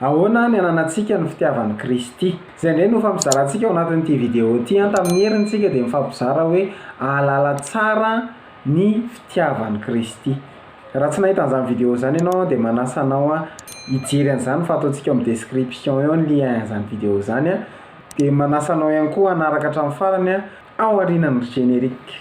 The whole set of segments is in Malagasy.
Ahoana ny ananantsika ny fitiavan'i Kristy? Izay indray no hofampizarantsika ao anatin'ity video ity an! Tamin'ny heriny isika dia mifampizara hoe ahalala tsara ny fitiavan'i Kristy. Raha tsy nahita an'izany video izany ianao dia manasa anao hijery an'izany fa ataontsika eo amin'ny description eo ny lien an'izany video izany an! Dia manasa anao ihany koa hanaraka hatramin'ny farany an! Ao aorianan'ny générique.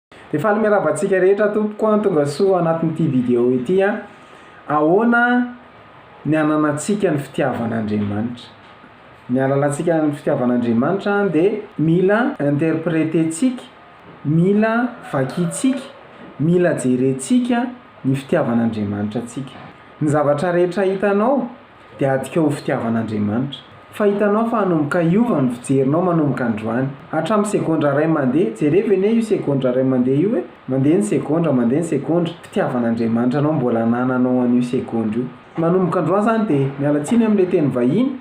Dia faly miarahaba antsika rehetra tompoko an, tonga soa anatin'ity vidéo ity an. Ahoana ny ananantsika ny fitiavan'Andriamanitra? Ny halalantsika ny fitiavan'Andriamanitra dia mila interpreter-tsika, mila vakintsika, mila jerentsika ny fitiavan'Andriamanitra antsika. Ny zavatra rehetra hitanao, dia adika ho fitiavan'Andriamanitra. Fa hitanao fa hanomboka hiova ny fijerinao manomboka androany. Hatramin'ny segondra iray mandeha, jerevo anie io segondra iray mandeha io e! Mandeha ny segondra, mandeha ny segondra, fitiavan'Andriamanitra anao mbola anananao an'io segondra io. Manomboka androany izany dia, miala tsiny amin'ilay teny vahiny,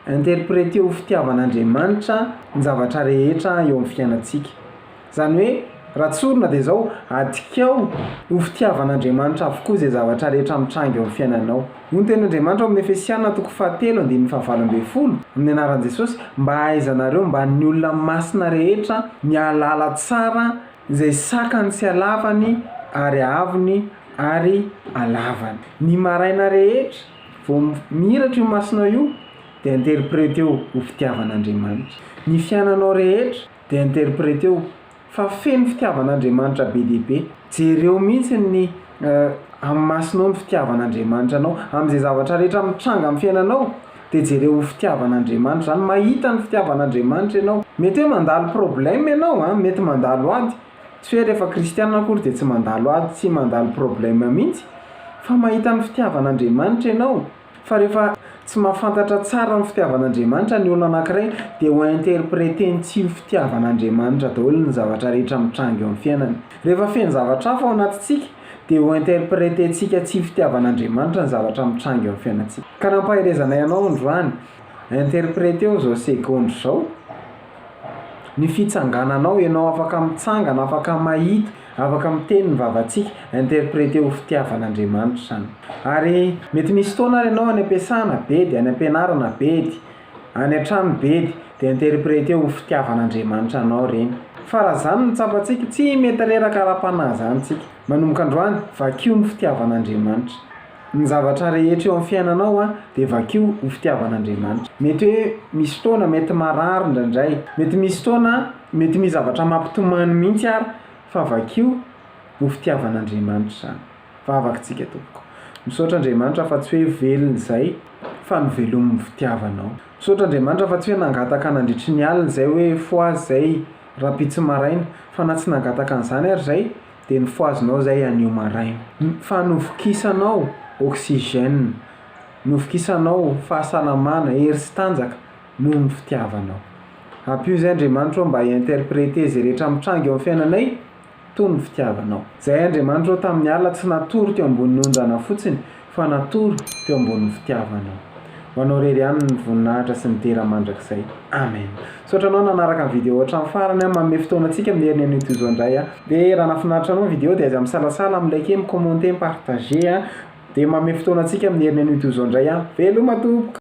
interpreteo ho fitiavan'Andriamanitra ny zavatra rehetra eo amin'ny fiainantsika. Izany hoe, raha tsorina dia izao, adikao ho fitiavan'Andriamanitra avokoa izay zavatra rehetra mitranga eo amin'ny fiainanao. Hoy ny Tenin'Andriamanitra ao amin'ny Efesiana toko fahatelo andininy fahavalo ambin'ny folo, amin'ny anaran'i Jesosy, Mba hahaizanareo mba ny olona masina rehetra ny hahalala tsara izay sakany sy halavany ary haavony ary halavany. Ny maraina rehetra vao mihiratra io masinao io dia interpreteo ho fitiavan'Andriamanitra ny fiainanao rehetra. dia interpreteo fa feno fitiavan'Andriamanitra be dia be, jereo mihitsy ny amin'ny masonao ny fitiavan'Andriamanitra anao, amin'izay zavatra rehetra mitranga amin'ny fiainanao dia jereo ho fitiavan'Andriamanitra izany, mahita ny fitiavan'Andriamanitra ianao, mety hoe mandalo problème ianao a, mety mandalo ady, tsy hoe rehefa kristiana akory dia tsy mandalo ady sy mandalo problème mihitsy fa mahita ny fitiavan'Andriamanitra ianao, Fa rehefa tsy mahafantatra tsara ny fitiavan'Andriamanitra ny olona anankiray dia ho interpreter-ny tsy ho fitiavan'Andriamanitra daholo ny zavatra rehetra mitranga eo amin'ny fiainany. Rehefa feno zavatra hafa ao anatintsika dia ho interpreter-tsika tsy ho fitiavan'Andriamanitra ny zavatra mitranga eo amin'ny fiainantsika. Ka nampaherezanay anao androany, interpreter-o izao seconde izao. ny fitsangananao, ianao afaka mitsangana, afaka mahita, afaka miteny ny vavantsika, interpréter ho fitiavan'Andriamanitra izany. Ary mety misy fotoana ary ianao any am-piasana bedy, any am-pianarana bedy, any an-trano bedy dia interpréter ho fitiavan'Andriamanitra anao ireny. Fa raha izany no tsapantsika, tsy mety reraka ara-panahy izany tsika. Manomboka androany, vakio ny fitiavan'Andriamanitra. Ny zavatra rehetra eo amin'ny fiainanao dia vakio ho fitiavan'Andriamanitra. Mety hoe misy fotoana mety marary indraindray, mety misy fotoana mety misy zavatra mampitomany mihitsy ary fa vakio ho fitiavan'Andriamanitra izany. Vavaka isika tompoko. Misaotra Andriamanitra fa tsy hoe velona izay fa novelomin'ny fitiavanao. Misaotra Andriamanitra fa tsy hoe nangataka nandritry ny alina izay hoe fohaza izay rahampitso maraina fa na tsy nangataka an'izany ary izay Dia nofohazinao izay anio maraina. Fa novokisanao oxygène, novokisanao fahasalamana, hery sy tanjaka noho ny fitiavanao. Ampio izay Andriamanitra ô mba hi-interpreter izay rehetra mitranga eo amin'ny fiainanay toy ny fitiavanao. Izay Andriamanitra ô tamin'ny alina tsy natory teo ambonin'ny onjana fotsiny, Fa natoro teo ambonin'ny fitiavanao. Ho anao irery ihany ny voninahitra sy ny dera mandrakizay. Amen. Misaotra anao nanaraka ny vidéo hatramin'ny farany an. Manome fotoana antsika amin'ny heriny anio toy izao indray an. Dia raha nahafinaritra anao ny vidéo dia aza misalasala mi liker, mi commenter, mi partager an. Dia manome fotoana antsika amin'ny heriny anio toy izao indray an. Veloma tompoko.